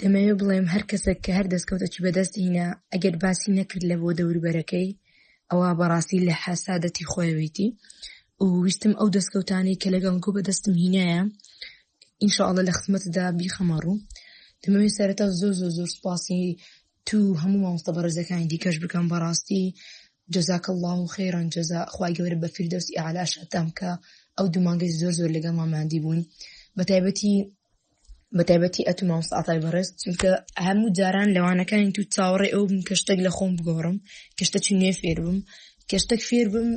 دەمەوێ بڵێم هەر کەسێک کە هەر دەستکەوتەکی بەدەست هینا ئەگەر باسی نەکرد لە بۆ دەوربەرەکەی ئەوە بەڕاستی لە حەسادەتی خۆیەوەیتی و ویستم ئەو دەستکەوتانی کە لەگەڵ گو بەدەستم هینایە ئینشاءڵە لە خزمەتدا بیخەمە ڕوو دەمەوێ سەرەتا زۆر زۆر زۆر سپاسی تو هەموو مامۆستە بەڕێزەکانی دیکەش بکەم بەڕاستی جزاک الله و خێران جزا خخوای گەورە بە فیردەوسی ئالاشتام کە ئەو دومانگەی زۆر زۆر لەگەڵ ماماندی بوون بە تایبەتی بەتایبەتی ئەتو مامۆس ئاتای بەڕێز چونکە هەموو جاران لەوانەکانی تو چاوەڕێ ئەو بم کە شتێک لە خۆم بگۆڕم کە شتە چی نوێ فێر بم کە شتێک فێر بم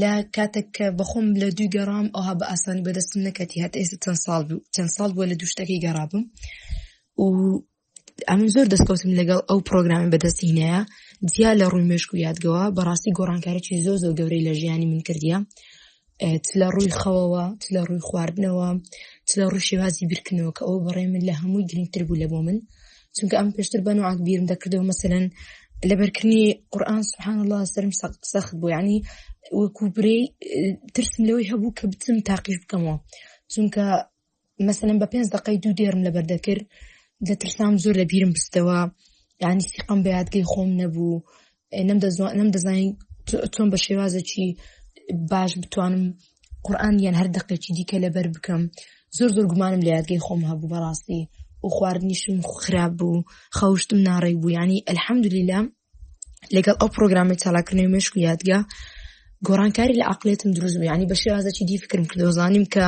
لە کاتێک کە بەخۆم لە دوی گەڕام ئەوها بە ئاسانی بەدەستم نەکەتی هەت ئێستا چەند ساڵ بوو چەند ساڵ بووە لە دوشتەکەی گەڕابم و ئەم زۆر دەستکەوتم لەگەڵ ئەو پرۆگرامی بەدەستینەیە جیا لە ڕووی مشک و یادگەوە بەڕاستی گۆڕانکارێکی زۆ زۆ گەورەی لە ژیانی من کردیە لە ڕووی خەوەوە لە ڕووی خواردنەوە لە ڕوو شێوازی بیرکردنەوە کە ئەو بەڕێ من لە هەمووی گرنگتر بوو لە بۆ من چونکە ئەم پێشتر بە نوعات بیرم دەکردەوە مەسەن لەبەرکردنی قورآان سبحان الله سرم سەخت بوو ینی وەکو برێ ترسم لەوەی هەبوو کە بچم تاقیش بکەمەوە چونکە مەسەلەن بە پێنج دقەی دوو دێرم لەبەر دەکرد دەترسام زۆر لە بیرم بستەوە یعنی سیقم بە یادگەی خۆم نەبوو نەم دەزانین چۆن بە شێوازەکی باش بتوانم قورآان یان هەر دقێکی دیکە لەبەر بکەم زۆر زۆر گومانم لە یادگەی خۆم هەبوو بەڕاستی و خواردنیشم خراپ بوو خەوشتم ناڕێک بوو ینی ئەلحەمدلیلا لەگەڵ ئەو پرۆگرامی چالاکردنەوەی مشک و یادگە گۆڕانکاری لە عقلێتم دروست بوو ینی بەشی رازەکی دی فکرم کردۆزانیم کە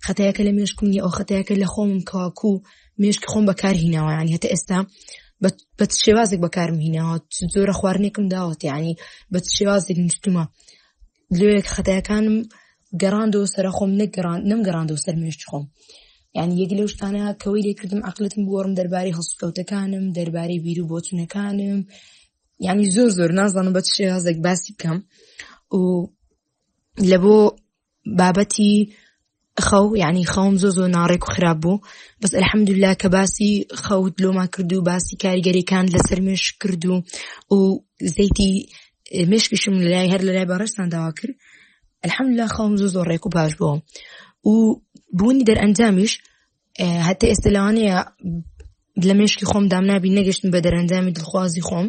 خەتایەکە لە مێشکمی ئەو خەتایەکە لە خۆم کاکو مێشک خۆم بەکار هیناوە ینی هەتا ئێستا بە شێوازێک بەکارم هیناوە زۆرە خواردنێکم داوەت ینی بە شێوازێک نووسمە لێک خەتایەکانم گەڕاندەوە سەرە خۆم نەگەڕان نم گەڕاندەوە سەر مێشت خۆم یعنی یەک لەو شتانە کەەوەی لێکردم عقلتم بۆڕم دەربارەی هەڵسکەوتەکانم دەربارەی بیر و بۆچونەکانم یعنی زۆر زۆر نازانم بە چێ هەزێک باسی بکەم و لە بۆ بابەتی خەو یعنی خەوم زۆ زۆ ناڕێک و خراپ بوو بەس الحەمدللا کە باسی خەوت لۆما کرد و باسی کاریگەریەکان لەسەر مێش کرد و و زەیتی مشکشم لای هەر لەلای بەڕێستان داوا کرد الحەمدللا خەوم زۆ زۆ ڕێک و باش بووم و بوونی دەرئەنجامیش هەتا ئێستا لەوانەیە لە مشکی خۆم دام نابی نەگەشتن بە دەرەنجامی دڵخوازی خۆم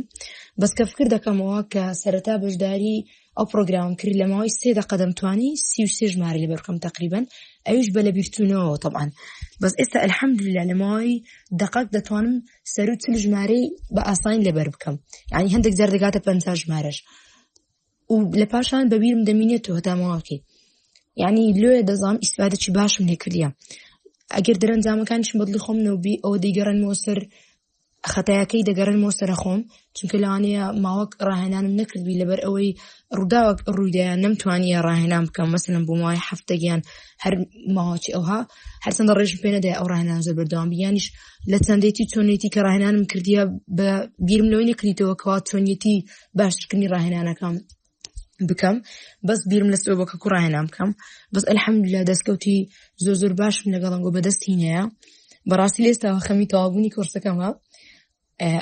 بەس کە فکر دەکەمەوە کە سەرەتا بەشداری ئەو پرۆگرام کرد لە ماوەی سێ دە قەدەم توانی سی سێ ژمارە لە بەرکەم تقریبن ئەوش بە لە بیرتونەوە طبعاان بەس ئێستا الحەمدللا لە ماوەی دقەک دەتوانم سەرو چل ژمارەی بە ئاسانی لەبەر بکەم ینی هەندێک جار دەگاتە پ ژمارەش و لە پاشان بە بیرم دەمینێتەوە تامەواکەی یعنی لێ دەزانام ئیسپادەی باشم لێکردە ئەگەر دەرەنجامەکانشم بەدلی خۆم نەوبی ئەوە دەیگەڕنەوە سەر خەتایەکەی دەگەڕنەوە سەرە خۆم چونکە لەوانەیە ماوەک ڕاهێنانم نەکردبی لەبەر ئەوەی ڕووداوەک ڕوویدایان نەمتوانیە ڕاهێنان بکەم مەسەن بۆ ماوەی هەفتەگیان هەر ماوەچی ئەوها هەرچەندە ڕێژم پێ نەدای ئەو ڕاهێنان زۆر بەردەوام بیانیش لە چەندێتی چۆنێتی کە ڕاهێنانم کردیە بە بیرم لەوەی نەکریتەوە کەوا چۆنیەتی باشترکردنی ڕاهێنانەکەم بکەم بەس بیرم لە سەوە کە کوڕاهێنام بکەم بەس ئەلحەمدلا دەستکەوتی زۆر زۆر باشم لەگەڵم گۆ بەدەستی هینەیە بەڕاستی لێستاوە خەمی تەوابوونی کۆرسەکەمە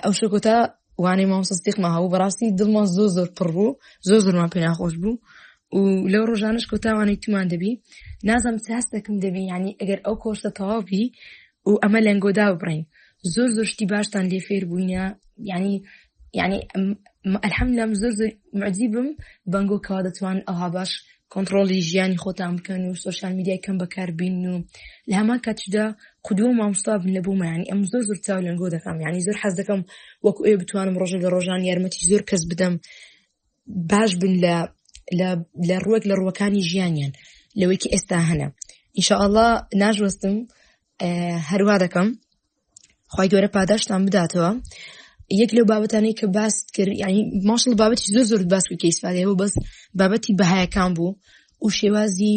ئەو شکۆتا وانەی مامسەستیقمە هەبوو بەڕاستی دڵمان زۆر زۆر پڕ بوو زۆر زۆرمان پێ ناخۆش بوو و لەو ڕۆژانش کۆتاوانەی تومان دەبی نازم ساستەکەم دەبی ینی ئەگەر ئەو کۆرسە تەواوبی و ئەمە لەنگۆ دابڕین زۆر زۆر شتی باشتان لێ فێر بووینە یعنی یعنی ئەلحەم لەم زۆر زۆر معجی بم بەنگۆ کەوا دەتوان ئەوها باش کۆنتترۆلی ژیانی خۆتان بکەن و سوۆشال میدیای کەم بەکاربین و لە هەمان کاتشدا قودوە مامستا بن لە بوومانی ئەم زۆر زۆر چاو لەنگۆ دەکەم یعنی زۆر حەز دەکەم وەکو ئێ بتوانم ڕۆژە لە ڕۆژان یارمەتی زۆر کەس بدەم باش بن لە لە ڕوەک لە ڕوەکانی ژیانیان لەوەیکی ئێستا هەنە ئیشاءله ناژوەستم هەروە دەکەم خی گەورە پاداشتان بداتەوە یەک لەو بابەتانەی کە باس کرد ینی ماشڵ بابەتی زۆر زۆر باس کە ئیسفادەوە بەس بابەتی بەهایەکان بوو و شێوازی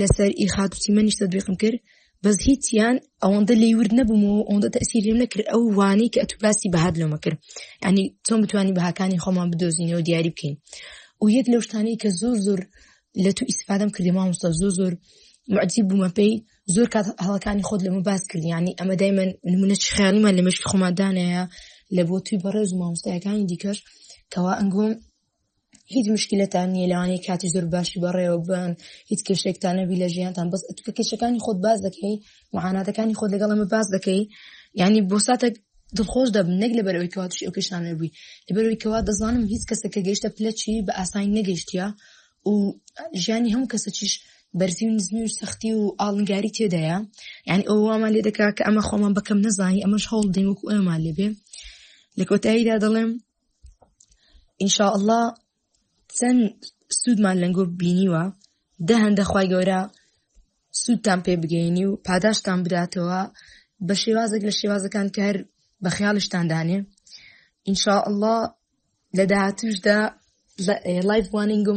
لەسەر ئی خاک و چیمەنیش تەدویقم کرد بەس هیچیان ئەوەندە لی ورد نەبوومەوە ئەوەندە تەسیریم نەکرد ئەو وانەی کە ئەتو باسی بەهات لەمە کرد ینی چۆن بتوانانی بەهاکانی خۆمان بدۆزینەوە دیاری بکەین و یەک لەو شتانەی کە زۆر زۆر لە تو ئیسفادەم کردی مامۆستا زۆر زۆر معجیب بوومە پێی زۆر کات هەڵەکانی خۆت لەمە باس کردیانی ئەمە دای من نمونە خیانیمان لە مشکی خۆمادانەیە لە بۆ توی بەڕێز مامۆستایەکانی دیکەش کەوا ئەنگۆم هیچ مشکلتان نییە لەوانەیە کاتی زۆر باشی بەڕێوە بن هیچ کێشێکتان نەبی لە ژیانتان بەس ئەتوکە کێشەکانی خۆت باز دەکەی معاناتەکانی خۆت لەگەڵ ئەمە باز دەکەی یعنی بۆ ساتێک دڵخۆش دەبن نەک لە بەرەوەی کەوا توشی ئەو کێشان نەبووی لە بەرەوەی کەوا دەزانم هیچ کەسە کە گەیشتە پلەچی بە ئاسانی نەگەشتە و ژیانی هەموو کەسە چیش بەرزی و نزمی و سەختی و ئاڵنگاری تێدایە یعنی ئەو وامان لێ دەکا کە ئەمە خۆمان بەکەم نەزانی ئەمەش هەوڵ دەین وەکو ئەمان لێبێ لە کۆتاییدا دەڵێم ئینشاء اللە چەند سوودمان لەنگۆ بینیوە دە هەندە خی گەورە سوودتان پێ بگەینی و پاداشتان بداتەوە بە شێوازێک لە شێوازەکان کە هەر بە خیاڵشتان دانێ ئینشاء اللە لە داهاتوشدا لایف وانینگۆمان